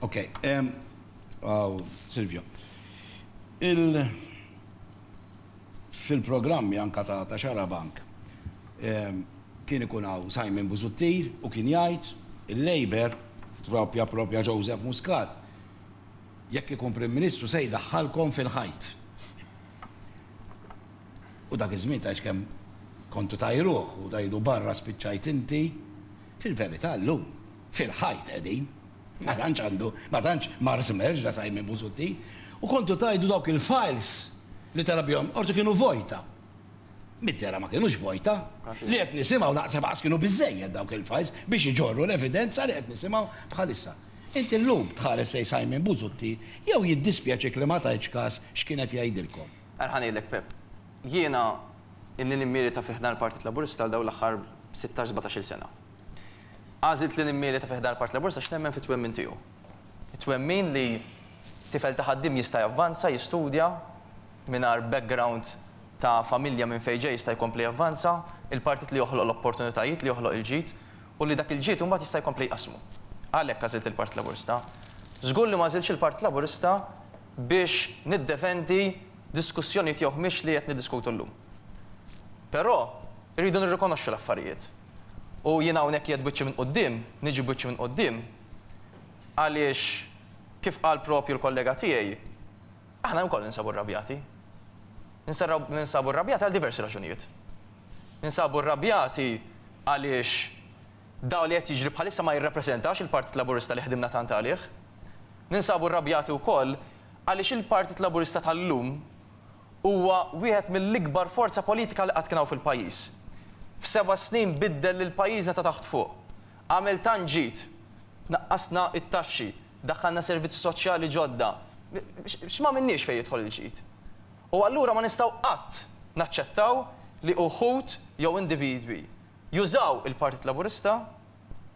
Ok, għaw Silvio. Il fil-programmi anka ta' ta' xara bank kien ikun għaw Simon Buzuttir u kien jgħid il-Labour propja propja Joseph Muscat jekk ikun Prim Ministru se jdaħħalkom fil-ħajt. U dak iż-żmien tgħidx kemm kontu tajruh u tgħidu barra spiċċajt inti fil-verità llum. Fil-ħajt qegħdin. Ma tantx għandu, ma tantx mar Żmerġ la Simon Busuttil. U kontu tgħidu dawk il-files li tela' bihom l-Qorti kienu vojta. Mid-dehra ma kinux vojta. Li qed nisimgħu naħseb aqas kienu biżżejjed dawk il-files biex iġorru l-evidenza li qed nisimgħu bħalissa. Inti llum tħares lejn Simon Busuttil jew jiddispjaċik li ma tajtx kas x'kien qed jgħidilkom. Ara ħa ngħidlek Pepp. Jiena ilni nimmilita fi ħdan il-Partit Laburista għal dawn l-aħħar sittax, sbatax-il sena. Għażilt li nimmieleta fi ħdan il-Partit Laburista għax nemmen fit-twemmin tiegħu. It-twemmin li tifel ta' ħaddiem jista' javvanza, jistudja, mingħajr background ta' familja minn fejn ġej jista' jkompli javvanza, il-partit li joħloq l-opportunitajiet, li joħloq il-ġid, u li dak il-ġid imbagħad jista' jkompli jqassmu. Għalhekk għażilt il-Partit Laburista. Żgur li m'għażiltx il-Partit Laburista biex niddefendi diskussjonijiet jew ħmieġ li qed niddiskutu llum. Però, irridu nirrikonoxxu l-affarijiet. U jiena hawnhekk qiegħed b'wiċċi minn quddiem, niġi b'wiċċi minn quddiem, għaliex kif qal proprju l-kollega tiegħi, aħna wkoll ninsabu rrabjati. Ninsabu rrabjati għal diversi raġunijiet. Ninsabu rrabjati għaliex dak li qed jiġri bħalissa ma jirrappreżentax il-Partit Laburista li ħdimna tant għalih. Ninsabu rrabjati wkoll għaliex il-Partit Laburista tal-lum Huwa wieħed mill-ikbar forza politika li qatt kien hawn fil-pajjiż. F'seba' snin biddel lil pajjiżna ta' taħt fuq. Għamel tant ġid. Naqqasna t-taxxi, daħħalna servizzi soċjali ġodda. X'm'għamilniex fejn jidħol il-ġid? U allura ma nistgħu qatt naċċettaw li uħud jew individwi jużaw il-Partit Laburista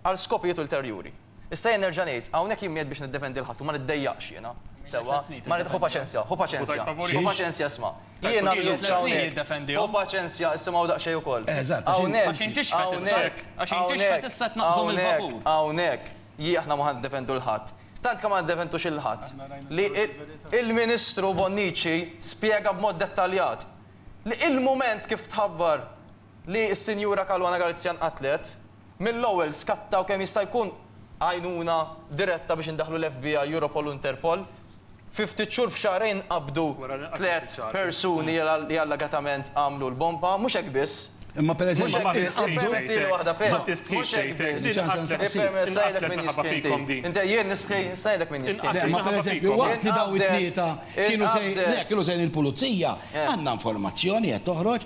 għal skopijiet ulterjuri. Issa jien nerġa' ngħid, hawnhekk jien m'qiegħed biex niddefendi 'l ħadd u ma niddejjaqx jiena, sewwa? Ma nid-, ħu paċenzja, ħu paċenzja, ħu paċenzja isma'. Jiena llum ġejt hawnhekk, ħu paċenzja issimgħu daqsxejn ukoll. Hawnhekk, hawnhekk, hawnhekk jien aħna ma ħa niddefendu 'l ħadd, tant kemm ma niddefendux 'il ħadd li l-Ministru Bonnici spjega b'mod dettaljat li l-mument kif tħabbar li s-Sinjura Caruana Galizia nqatlet, mill-ewwel skattaw kemm jista' jkun għajnuna diretta biex indaħħlu l-FBI, Europol u Interpol. Fi ftit xhur, f'xahrejn qabdu tliet persuni li allegatament għamlu l-bomba. Mhux hekk biss. Imma pereżempju, waqt li dawn it-tlieta kienu sejrin il-Pulizija, għandna informazzjoni qed toħroġ,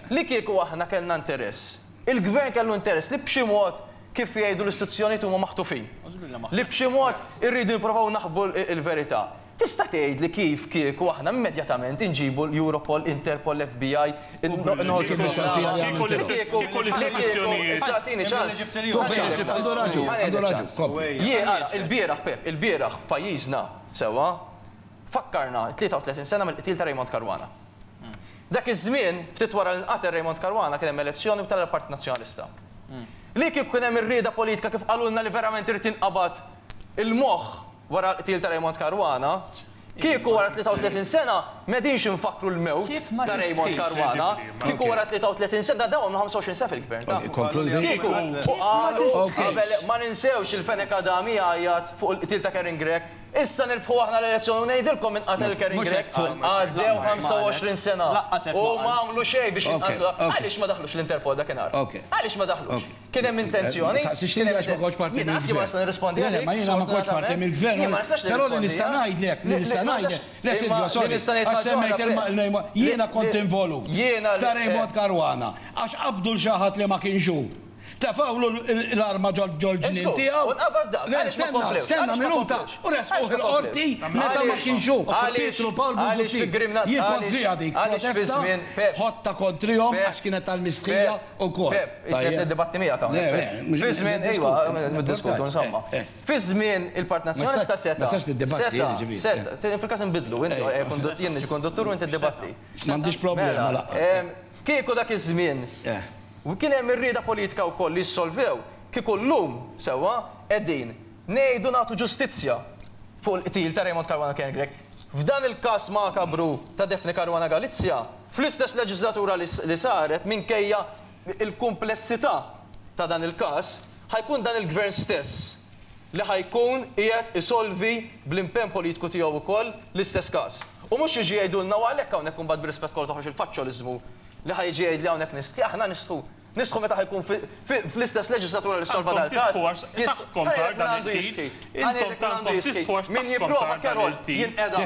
Li kieku aħna kellna interess, il-Gvern kellu interess li b'xi mod, kif jgħidu l-istituzzjonijiet huma maħtufin, li b'xi mod irridu nipprovaw naħbu l-verità. Tista' tgħidli kif kieku aħna immedjatament inġibu l-Europol, Interpol, l-FBI, noħorġu b'propaganda? Li kieku l-istituzzjonijiet. Issa agħtini ċans. Għandu raġun, għandu raġun. Kompli. Jien, ara, ilbieraħ, Pepp, ilbieraħ f'pajjiżna, sewwa, fakkarna t-33 sena mill-qtil ta' Raymond Caruana. Dak iż-żmien, ftit wara li nqatel Raymond Caruana kien hemm elezzjoni u tela' l-Partit Nazzjonalista. Li kieku kien hemm ir-rieda politika kif qalulna li verament irid jinqabad il-moħħ wara l-qtil ta' Raymond Caruana, kieku wara 33 sena m'qegħdinx infakkru l-mewt ta' Raymond Caruana, kieku wara 33 sena, dawn għamlu 25 sena fil-Gvern, taf? Kieku u qalu qabel ma ninsewx il-Fenech Adami jgħajjat fuq il-qtil ta' Karen Grech, Issa nirbħu aħna l-elezzjoni u ngħidilkom min qatel il-Kering Grech. Għaddew 25 sena u ma għamlu xejn biex jinqatlu. Għaliex ma daħlux l-Interpol dakinhar? Għaliex ma daħlux? Kien hemm intenzjoni? Jiena ma nista' nirrispondi għalik. Jiena ma kontx parti mill-Gvern. Jiena ma nistax nirrispondi. Però li nista' ngħidlek, li nista' ngħidlek, le Silvio, sorry, għax semmejt il-Raymond, jiena kont involut ta' Raymond Caruana għax qabdu 'l xi ħadd li ma kienx hu. Tefgħulu l-arma ġol-ġnien tiegħu. Żgur, u nqabar dak. Għaliex ma komplewx? Għaliex ma komplewx? Stenna minuta, u resquh il-Qorti meta ma kienx hu. Għaliex fi Grimnazz? Għaliex fi żmien Pepp? Ħodtha kontrihom għax kienet tal-mistħija wkoll. Pepp, isni qed niddibatti miegħek hawnhekk. Fi żmien, ejwa, niddiskutu, insomma. Fi żmien il-Partit Nazzjonalista setgħa. Setgħa. Fil-każ inbiddlu, jien niġi konduttur u inti ddibatti. M'għandix problema laqqas. Kieku dak iż-żmien kien hemm ir-rieda politika wkoll li jissolvew, kieku llum, sewwa, qegħdin ngħidu nagħtu ġustizzja fuq il-qtil ta' Raymond Caruana Karen Grech. F'dan il-każ makabru ta' Daphne Caruana Galizia, fl-istess leġiżlatura li saret, minkejja l-kumplessità ta' dan il-każ, ħa jkun dan il-Gvern stess, li ħa jkun qiegħed isolvi bl-impenn politiku tiegħu wkoll l-istess każ. U mhux jiġi jgħidulna u għalhekk hawnhekk imbagħad bir-rispett kollu toħroġ il-faċċoliżmu li ħa jiġi jgħidli hawnhekk nistħi, aħna nistħu, nistħu meta ħa jkun fl-istess leġiżlatura li ssolva dal-każ, jistħi, ħa jgħid min għandu jistħi, ħa ngħidlek min għandu jistħi, min jipprova Carol jinqeda,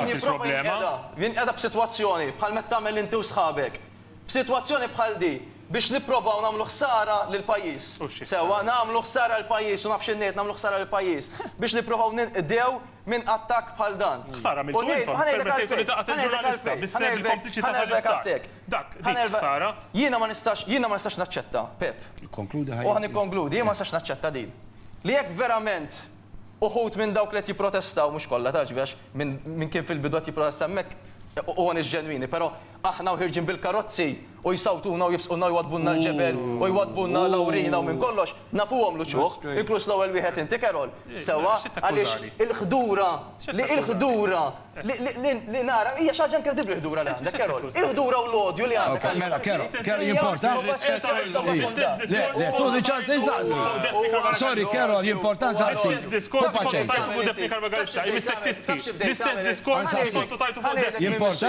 min jipprova jinqeda, jinqeda b'sitwazzjoni bħal meta tagħmel inti u sħabek. F'sitwazzjoni bħal di, biex nipprovaw nagħmlu ħsara lill-pajjiż. Sewwa, nagħmlu ħsara lill-pajjiż, u naf x'in ngħid, nagħmlu ħsara lill-pajjiż, biex nipprovaw ninqdew minn attakk bħal dan. Ħsara għamiltu intom, ippermettejtu li taqgħet il-ġurnalista, bis-sehem bil-kompliċità tal-Istat. Dak, dik ħsara. Jiena ma nistax, jiena ma nistax naċċetta, Pepp. Ikkonkludi ħajjati. U ħa nikkonkludi, jien ma nistax naċċetta din. Li jekk verament uħud minn dawk li qed jipprotestaw, mhux kollha, tgħaġbiex, min kien fil-bidu qed jipprotesta hemmhekk, u għan iġ-ġenwini, però Aħna u ħierġin bil-karozzi u jsawtuna u jibsqulna u jwaddbulna l-ġebel u jwaddbulna Lawrina u minn kollox, nafuhom l-uċuħ, inkluż l-ewwel wieħed inti Carol, sewwa, għaliex il-ħdura li il-ħdura li li nara, hija xi ħaġa inkredibbli l-ħdura li għandek Carol, il-ħdura u l-odju li għandek għal Mela Carol, Carol jimporta? Le, le, tuħni ċans insaqsi. Sorry Carol, jimporta nsaqsi. Hu faċenti. Jimporta?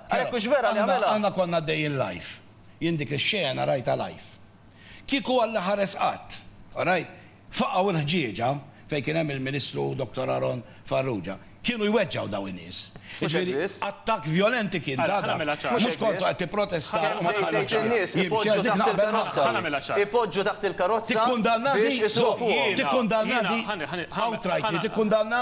Għalhekk hux vera li għamilha. Aħna konna għaddejjin live. Jien dik ix-xena rajtha live. Kieku Alla ħares qatt. Orajt? Faqgħu l-ħġieġa fejn kien hemm il-Ministru Dottor Aaron Farrugia. Kienu jweġġgħu dawn in-nies. Jiġifieri attakk vjolenti kien ta' dak. Mhux kontu qed tipprotesta u ma tħalli ħadd jimxi għax dik naqbel magħha. Ipoġġu taħt il-karozza biex isuqu fuqhom. Tikkundanna di? Tikkundanna di? Outrightly tikkundanna?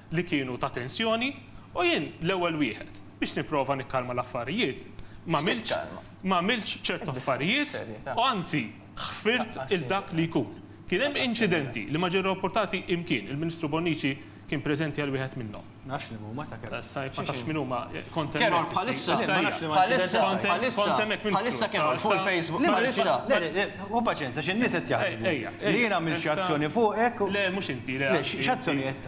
li kienu ta' tensjoni u jien l-ewwel wieħed biex nipprova nikkalma l-affarijiet m'għamiltx m'għamiltx ċertu affarijiet u anzi ħfirt 'il dak li jkun. Kien hemm inċidenti li ma ġew rapportati imkien, il-Ministru Bonnici kien preżenti għal wieħed minnhom. Nafx li mhuma ta' Keror. Sa jekk ma tafx min huma, kont hemmhekk. Keror bħalissa, bħalissa, bħalissa, bħalissa Keror fuq il-Facebook, bħalissa. Le, le, hu paċenza xi n-nies qed jaħsbu li jien għamilt xi azzjoni fuqek u. Le, mhux inti, le. Le, x'azzjonijiet?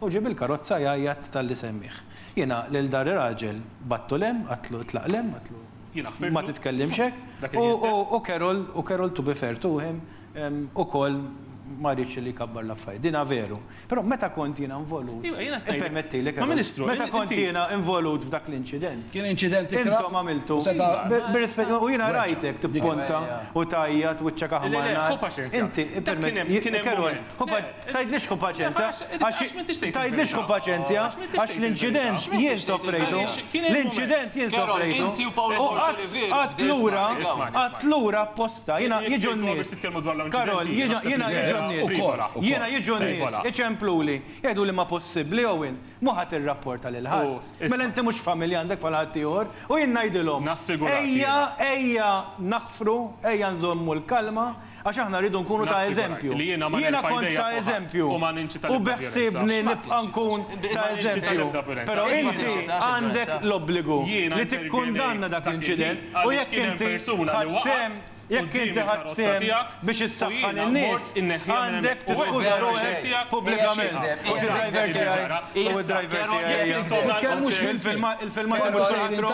U ġie bil-karozza jgħajjat talli semmieh. Jiena lil dak ir-raġel bgħattu 'l hemm, għadtlu itlaq 'l hemm, għadtlu ma titkellimx hekk, u Carol, u Carol to be fair to him, ukoll ma riedx li jkabbar l-affarijiet. Din veru. Però meta kont jiena involut, ippermettili Carol, meta kont jiena involut f'dak l-inċident, intom għamiltu, bir-rispett, u jiena rajtek tippunta u tgħajjat, wiċċek aħmar nar, inti, ippermettili Carol, hu paċenzja. Tgħidlix kun paċenzja, għax tgħidlix kun paċenzja, għax l-inċident jien sofrejtu, l-inċident jien sofrejtu, u qatt lura, qatt lura apposta, jiena jiġu n-nies, Karol, jiena jiġu n-nies, jiena jiġu n-nies, iċempluli, jgħiduli ma possibbli Owen, mhu ħa tirrapporta lil ħadd, mela inti mhux familja għandek bħal ħaddieħor, u jien ngħidilhom, ejja, ejja naħfru, ejja nżommu l-kalma, Għax aħna rridu nkunu ta' eżempju. Jiena kont ta' eżempju u beħsiebni nibqa' nkun ta' eżempju. Però inti għandek l-obbligu li tikkundanna dak l-inċident u jekk inti ħadt sehem, jekk inti ħadt sehem biex issaħħan in-nies, għandek tiskuża ruħek pubblikament. U xi driver tiegħi u d-driver tiegħi. Titkellmux mill-filmat. Il-filmat imur saħansitru.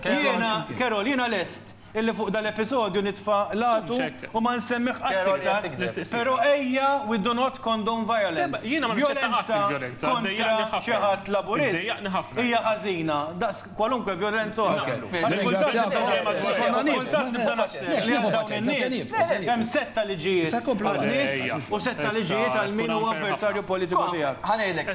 Jiena, Carol, jiena lest. Illi fuq dal-episodju nitfa' l-għatu u ma nsemmih qatt iktar, però ejja we do not condone violence. Vjolenza kontra xi ħadd Laburist hija ħażina daqs kwalunkwe vjolenza oħra. Għax kultant nibda naħseb, kultant nibda naħseb li għal dawn in-nies hemm setta liġijiet għan-nies u setta liġijiet għal min huwa avversarju politiku tiegħek. Ħa ngħidlek,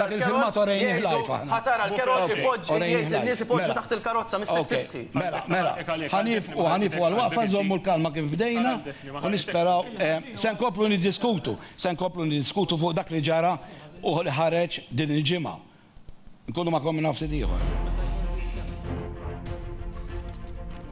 Dak il-filmat orejnih live aħna. Ħa tara l-Kerod ipoġġi jgħid lin-nies ipoġġu taħt il-karozza mis-sektisti. Ok, mela, mela. Ħa nieqfu, ħa nieqfu għall-waqfa, nżommu l-kalma kif bdejna u nisperaw. Se nkomplu niddiskutu, se nkomplu niddiskutu fuq dak li ġara u li ħareġ din il-ġimgħa. Nkunu magħkom minn hawn ftit ieħor.